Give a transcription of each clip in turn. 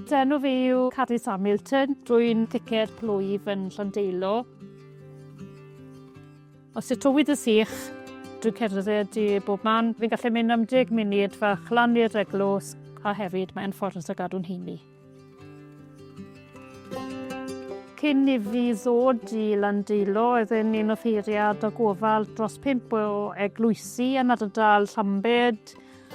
Enw fi yw Cadis Hamilton. Rwy'n thicer plwyf yn Llandeilo. Os yw tywyd y sych, dwi'n cerdded i bob man. Fi'n gallu mynd am deg munud fach lan i'r eglwys a hefyd mae'n ffordd o gadw'n heini. Cyn i fi ddod i Landeilo, oeddwn ni'n offeiriad o gofal dros pimp o eglwysi yn ardal Llambed.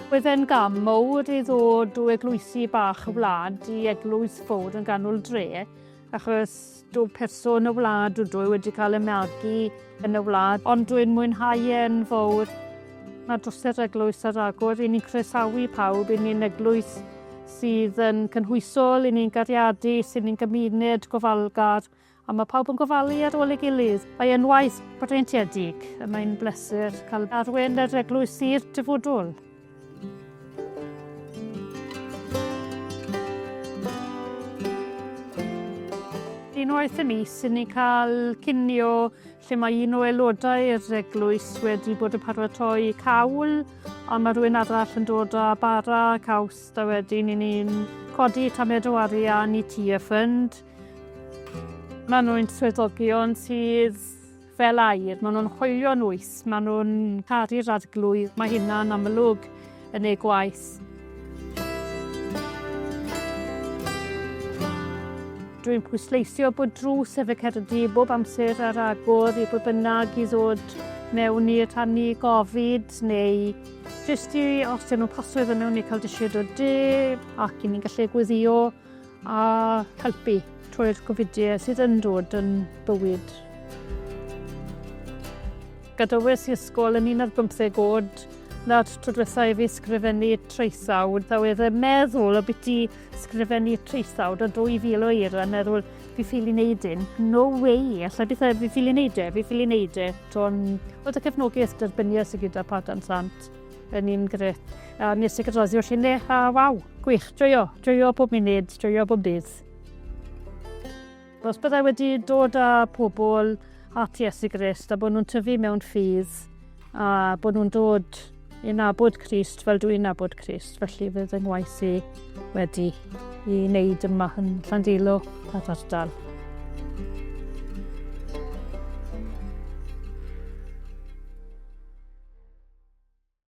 Oedden gam mowr i ddod o eglwysi bach y wlad i eglwys fowr yn ganol dre. Achos dw person y wlad, dw dwy wedi cael y magu yn y wlad, ond dwi'n mwynhau e yn fawr. Mae dros yr eglwys ar agor, i ni'n croesawu pawb, i ni'n eglwys sydd yn cynhwysol, i ni'n gariadu, sy'n ni'n gymuned gofalgar, a mae pawb yn gofalu ar ôl ei gilydd. Mae e'n waith breintiedig, a mae'n bleser cael arwen yr eglwys i'r dyfodol. Unwaith y mis, sy'n ni'n cael cinio lle mae un o aelodau yr eglwys wedi bod yn paratoi cawl a mae rhywun arall yn dod â bara caws da wedyn i ni'n codi tamed o arian i ti a ffynd. Mae nhw'n swyddogion sydd fel air, maen nhw'n hoelio yn wyth, maen nhw'n caru'r arglwydd, mae hynna'n amlwg yn ei gwaith. Dwi'n pwysleisio bod drws efe Cerdy bob amser ar agor i bod bynnag i ddod mewn i rhannu gofid neu jyst i os dyn nhw'n pasio iddyn nhw neu cael disiod o de ac i ni'n gallu gweddio A helpu trwy'r gofidiau sydd yn dod yn bywyd. Gadawes i ysgol yn un ar bymtheg oed, na'r tro diwetha i fi sgrifennu traethawd, a oedd yn meddwl o beth i sgrifennu traethawd o 2000 o eir, a meddwl, fi ffili wneud un. No way, allai beth fi ffili wneud e, fi ffili wneud e. Ond oedd y cefnogaeth derbyniol sydd gyda Padarn Sant. Yn un gret. A nes i gyda'r ddioll hynny, a waw, gwych, joio, joio pob munud, joio pob dydd. Os byddai wedi dod â pobl at Iesu Grist a bod nhw'n tyfu mewn ffydd a bod nhw'n dod i nabod Crist fel dwi'n nabod Crist, felly fydd yng ngwaith i wedi i wneud yma yn Llandilo a'r ardal.